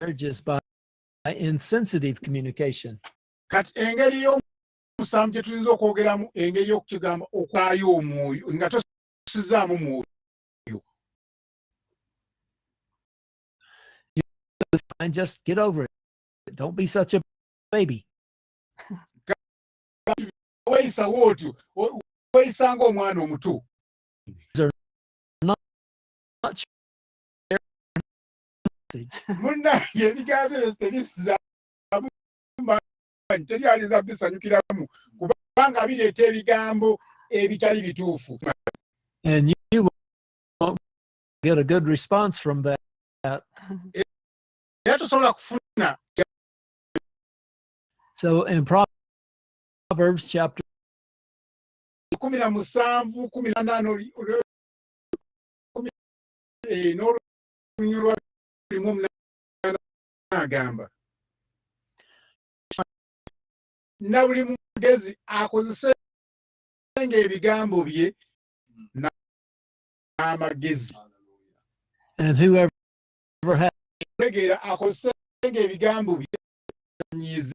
marriages by insensitive communication. Kati engeri y'omusamu gye tuyinza okwogeramu engeri y'okukigamba okwayo omwoyo nga tosizaamu mwoyo. And just get over it. Don't be such a baby. weyisawo otyo weyisanga omwana omuto munange ebigambo ebyo tebizaamu teri alinza bisanyukiramu kubanga bireeta ebigambo ebitali bituufu And you won't get a good response from that. So in Proverbs Proverbs chapter kumi na musanvu kumi na nana eh, n'olunyulwa limu omunana agamba na buli mugezi akozese nga ebigambo bye n'amagezi tegeera akozese nga ebigambo bye nyiizi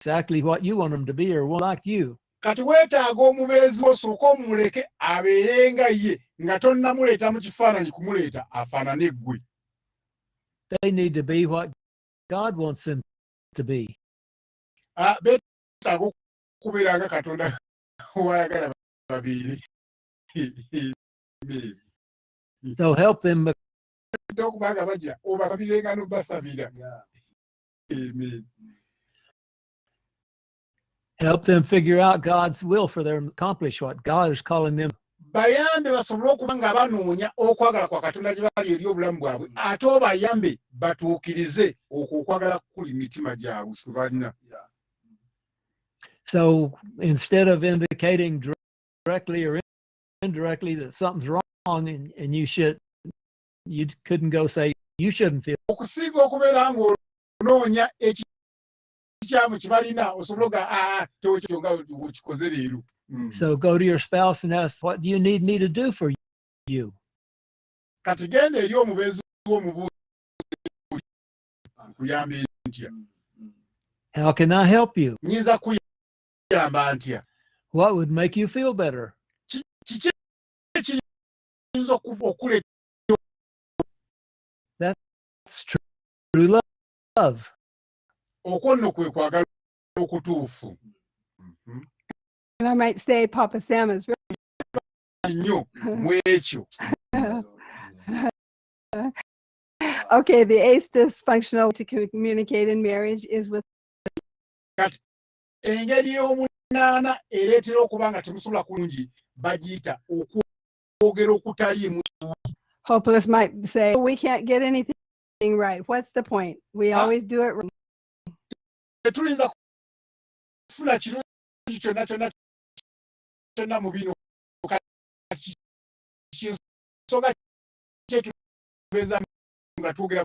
exactly what you want them to be or want like you. Kati weetaaga omubeezi wo sooka omuleke abeere nga ye nga tonnamuleeta mu kifaananyi kumuleeta afaanane ggwe. They need to be what God wants them to be. Ah, beetaaga okubeera nga Katonda w'ayagala babeere. So help them. Okuba nga bajja obasabirenga n'obasabira. Amen. Help them figure out God's will for their accomplish what God is calling them. bayambe basobole okuba nga banoonya okwagala kwa katonda gye bali eri obulamu bwabwe ate obayambe batuukirize okwo okwagala kukuli mitima gyabwe kwe balina so instead of indicating directly or indirectly that something's wrong and, and you should you couldn't go say you shouldn't feel okusinga okubeera ng'onoonya ekikyamu kibalina osobola oga aa ah, kyokyo nga okikoze leero hmm. so go to your spouse and ask what do you need me to do for you kati genda eri omubeezi w'omubuuzi kuyamba ntya how can i help you nyinza kuyamba ntya what would make you feel better kiki ayinza okuva okuleta okwo nno kwe kwagala okutuufu mm-hmm. And I might say Papa Sam is really nnyo mwekyo okay the eighth dysfunctional to communicate in marriage is with engeri ey'omunaana ereetera okuba nga temusobola kulungi bagiyita okwogera okutaliimu hopeless might say we can't get anything right what's the point we ah. always do it tetuyinza kufuna kirungi kyonna kyonna kyonna mu bino kinsonga kyetubeeza nga twogera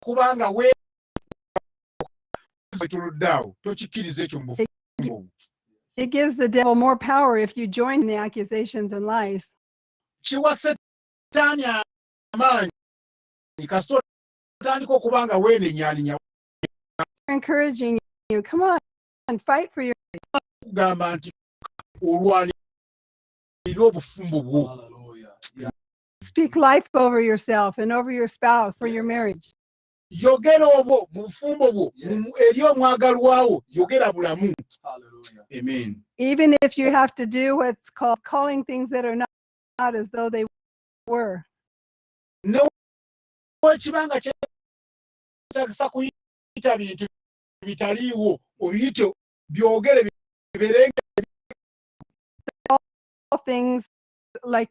kubanga wetuludde awo tokikkiriza ekyo mu It gives the devil more power if you join the accusations and lies. kiwa setaani amaanyi kasita otandika okuba nga weenenyaaninya encouraging you come on and fight for your kugamba nti olwanirira obufumbo bwo Speak life over yourself and over your spouse or your marriage. yogera obwo mu bufumbo bwo mu- eri omwagalwawo yogera bulamu Hallelujah. amen Even if you have to do what's called calling things that are not, not as though they were. newekiba nga kyetagisa kuyita bintu bitaliiwo obiyite byogere bibeere All things like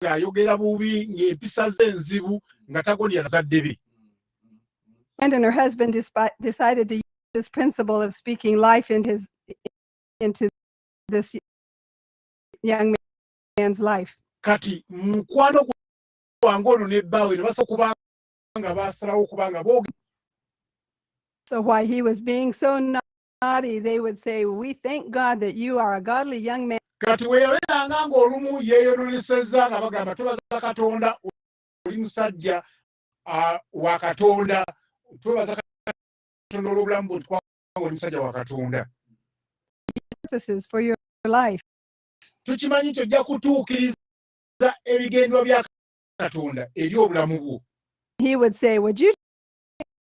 ayogera bubi ng'empisa ze enzibu nga tagondera bazadde be And her husband decided to use this principle of speaking life into, his, into this young man's life. Kati mukwano gwange ono ne bbaawe ne basobola kuba nga baasalawo kuba nga boogera. So why he was being so nice. body, they would say, We thank God that you are a godly young man. kati we yabeeranga ng'olumu yeeyononesezza nga bagamba twebaza katonda oli musajja wa katonda twebaza katonda olw'obulamu bwe ntukwanga oli musajja wa katonda tukimanyi nti ojja kutuukiriza ebigendwa bya katonda eri obulamu bwo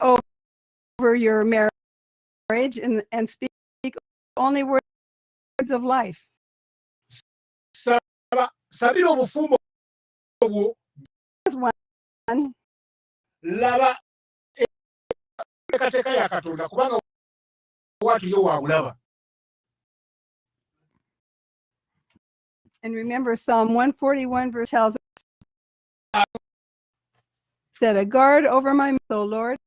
over your marriage and, and speak only words of life. sabira obufumbo obwo laba enteekateeka ya katonda kubanga watu yo waabulaba And remember, Psalm 141 verse tells us Set a guard over my mouth, O Lord.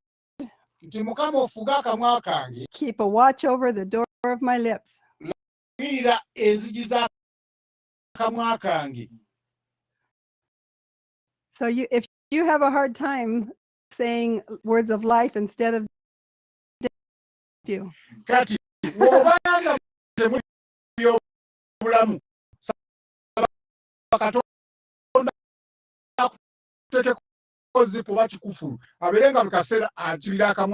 nti mukama ofuge akamwa kange Keep a watch over the door of my lips. lagirira enzigi z'akamwa kange So you, if you have a hard time saying words of life instead of death, you kati obanga temuli byobulamu saba katonda tekeko kozi kuba kikufulu abeere nga buli kaseera akibira akamu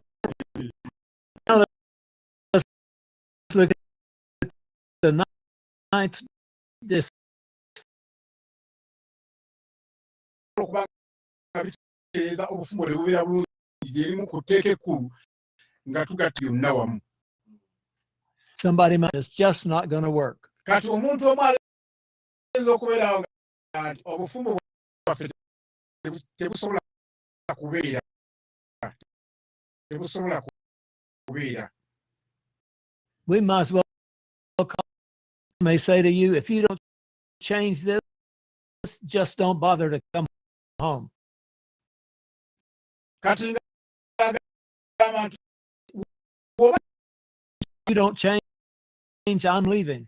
okubaeza obufumo tebubeera bulungi lyerimu ku tteeka ekkulu nga tugatta yonna wamu kati omuntu omu ayinza okubeerawo nti obufumbo bwaffe tebusobola kubeera tebusobola kubeera we might as well may say to you if you don't change this just don't bother to come home kati you don't change I'm leaving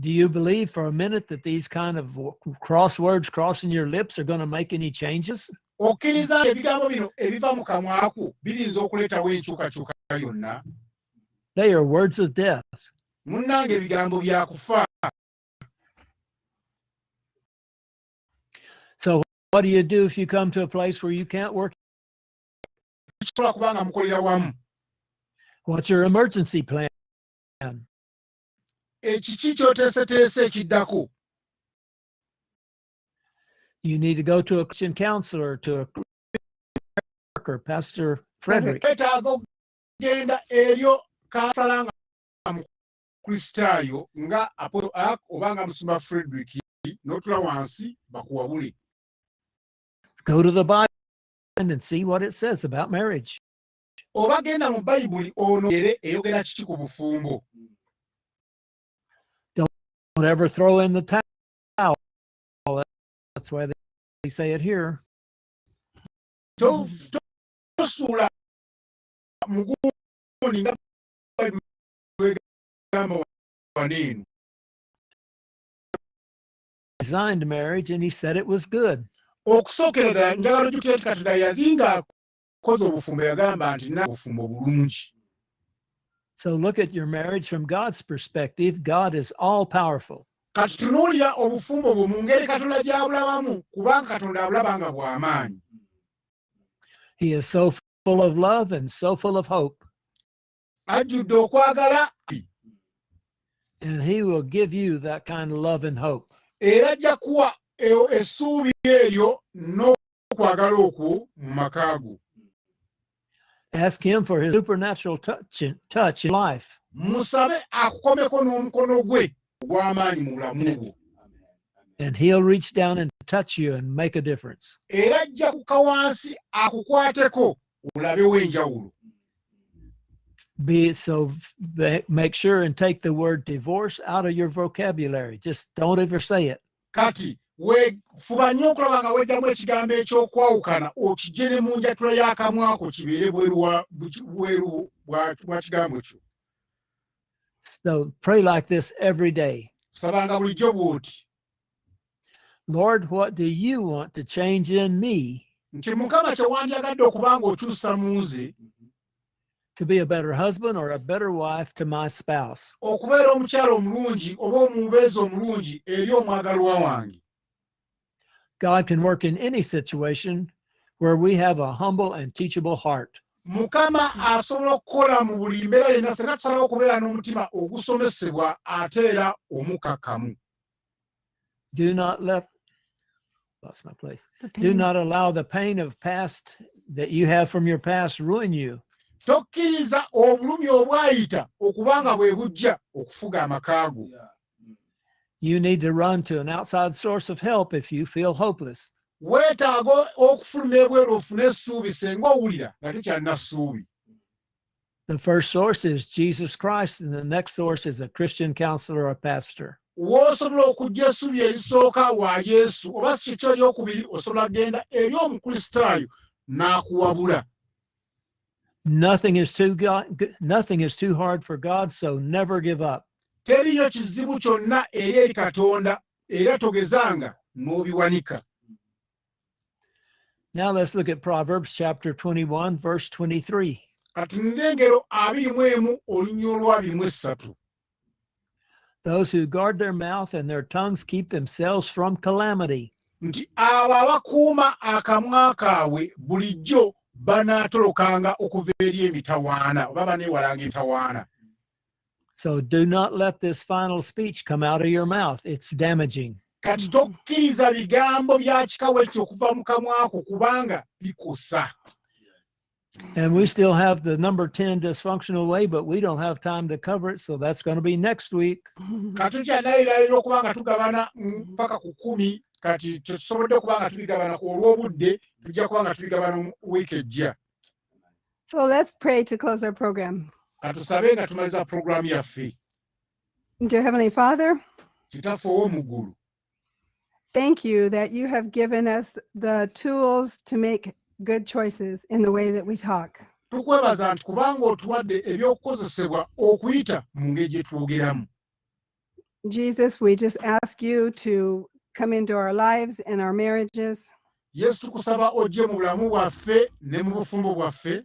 Do you believe for a minute that these kind of w- cross words crossing your lips are going to make any changes? okkiriza nti ebigambo bino ebiva mu kamwaku biyinza okuleetawo enkyukakyuka yonna They are words of death. munnange ebigambo bya kufa What do you do if you come to a place where you can't work? kisobola kuba nga mukolera wamu What's your emergency plan? ekiki kyoteeseteese ekiddako you need to go to a Christian counselor, to a worker, Pastor Frederick. okugenda eryo kansala nga mukristaayo nga apoto ak oba nga musumba frederick n'otula wansi bakuwabule go to the bible and see what it says about marriage oba genda mu bayibuli ono ere eyogera kiki ku bufumbo Don't ever throw in the towel. That's why they say it here. tosuula mugundi nga egamba waneeno designed marriage and he said it was good. okusookera ddala njagala ojjukira nti katonda yali nga kozi obufumbo yagamba nti na obufumbo bulungi so look at your marriage from god's perspective god is all powerful kati tunuulira obufumbo bwo mu ngeri katonda gy'abulabamu kubanga katonda abulaba nga bw'amaanyi he is so full of love and so full of hope ajjudde okwagala and he will give you that kind of love and hope era ajja kuwa essuubi eryo n'okwagala okwo mu maka go ask him for his supernatural touch, touch in life musabe akukomeko n'omukono gwe ogw'amaanyi mu bulamu bwo and he'll reach down and touch you and make a difference era ajja kuka wansi akukwateko olabewo enjawulo be so be, make sure and take the word divorce out of your vocabulary just don't ever say it kati we fuba nnyo okulaba nga wejjamu ekigambo ekyokwawukana okijje ne mu njatula y'akamwako kibeere bweru bwa kigambo kyo so pray like this every day sabanga bulijjo bw'oti Lord, what do you want to change in me? nti mukama kyewandyagadde okuba ng'okyusa mu nze to be a better husband or a better wife to my spouse okubeera omukyala omulungi oba omubeezi omulungi eri omwagalwa wange God can work in any situation where we have a humble and teachable heart. mukama asobola okukola mu buli mbeera yenna senga tusalawo okubeera n'omutima ogusomesebwa ate era omukakamu do not let lost my place do not allow the pain of past that you have from your past ruin you tokkiriza obulumi obwayita okuba nga bwe bujja okufuga amakaago You need to run to an outside source of help if you feel hopeless. weetaaga okufuluma ebweru ofune essuubi senga owulira nga tekyalina ssuubi The first source is Jesus Christ, and the next source is a Christian counselor or pastor. w'osobola okujja essuubi erisooka wa yesu oba si kyekyo eryokubiri osobola kugenda eri omukristaayo n'akuwabula Nothing is too God, g- nothing is too hard for God, so never give up. teriyo kizibu kyonna eri eri katonda era togezanga n'obiwanika Now let's look at Proverbs chapter 21 verse 23. katunula engero abiri mu emu olunya olwabiri mu essatu Those who guard their mouth and their tongues keep themselves from calamity. nti abo abakuuma akamwa kaabwe bulijjo banaatolokanga okuva eri emitawaana oba baneewalanga entawaana so do not let this final speech come out of your mouth it's damaging kati tokkiriza bigambo bya kikawo ekyo okuva mu kamwako kubanga bikusa And we still have the number 10 dysfunctional way, but we don't have time to cover it. So that's going to be next week. nga tukyanayirayira okuba nga tugabana mm, mpaka ku kumi kati tetusobodde okuba nga tubigabana ku olw'obudde tujja kuba nga tubigabana mu wiiki ejja So let's pray to close our program. katusabe nga tumaliza puroguramu yaffe Dear Heavenly Father, kitaffe ow'omuggulu thank you that you have given us the tools to make good choices in the way that we talk. tukwebaza nti kubanga otuwadde eby'okukozesebwa okuyita mu ngeri gye twogeramu Jesus, we just ask you to come into our lives and our marriages. Yesu tukusaba ojje mu bulamu bwaffe ne mu bufumbo bwaffe.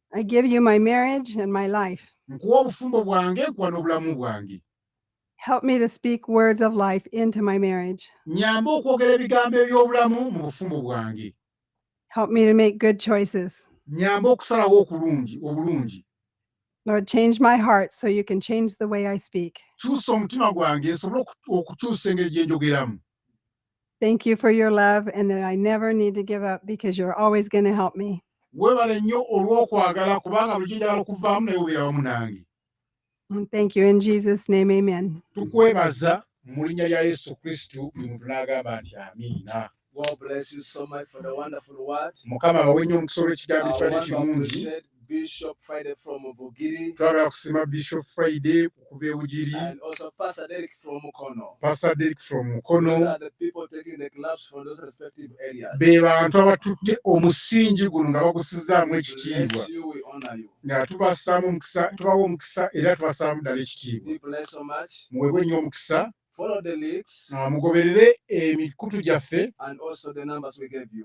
I give you my marriage and my life. nkuwa obufumbo bwange nkuwa n'obulamu bwange Help me to speak words of life into my marriage. nyamba okwogera ebigambo eby'obulamu mu bufumbo bwange Help me to make good choices. nyamba okusalawo okulungi obulungi Lord, change my heart so you can change the way I speak. kyusa omutima gwange nsobole oku- okukyusa engeri gye njogeramu Thank you for your love and that I never need to give up because you're always going to help me. Webale nnyo olw'okwagala kubanga bulijjo njagala okuvaamu naye obeera wamu nange. And thank you in Jesus name amen. Tukwebaza mu linnya lya Yesu Kristo buli muntu n'agamba nti amiina. God bless you so much for the wonderful word. Mukama abawe nnyo omukisa olw'ekigambo Our ekibadde wonderful kirungi. shed. Bishop Friday from Bugiri. Twagala kusima Bishop Friday kuva e Bugiri. And also Pastor Derek from Mukono. Pastor Derek from Mukono. Those are the people taking the clubs from those respective areas. Be bantu abatutte omusingi guno nga bagusizaamu ekitiibwa. Nga tubasaamu omukisa, tubawa omukisa era tubasaamu ddala ekitiibwa. Be blessed so much. Muweebwe nnyo omukisa. Ah, mugoberere emikutu gyaffe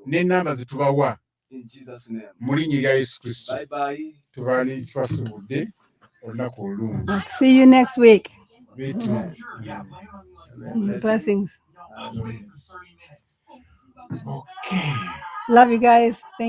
n'ennamba ze tubawa. mu linnya erya yesu kristo tubali twasibudde olunaku olulungi see you next week blessings okay love you guys Thank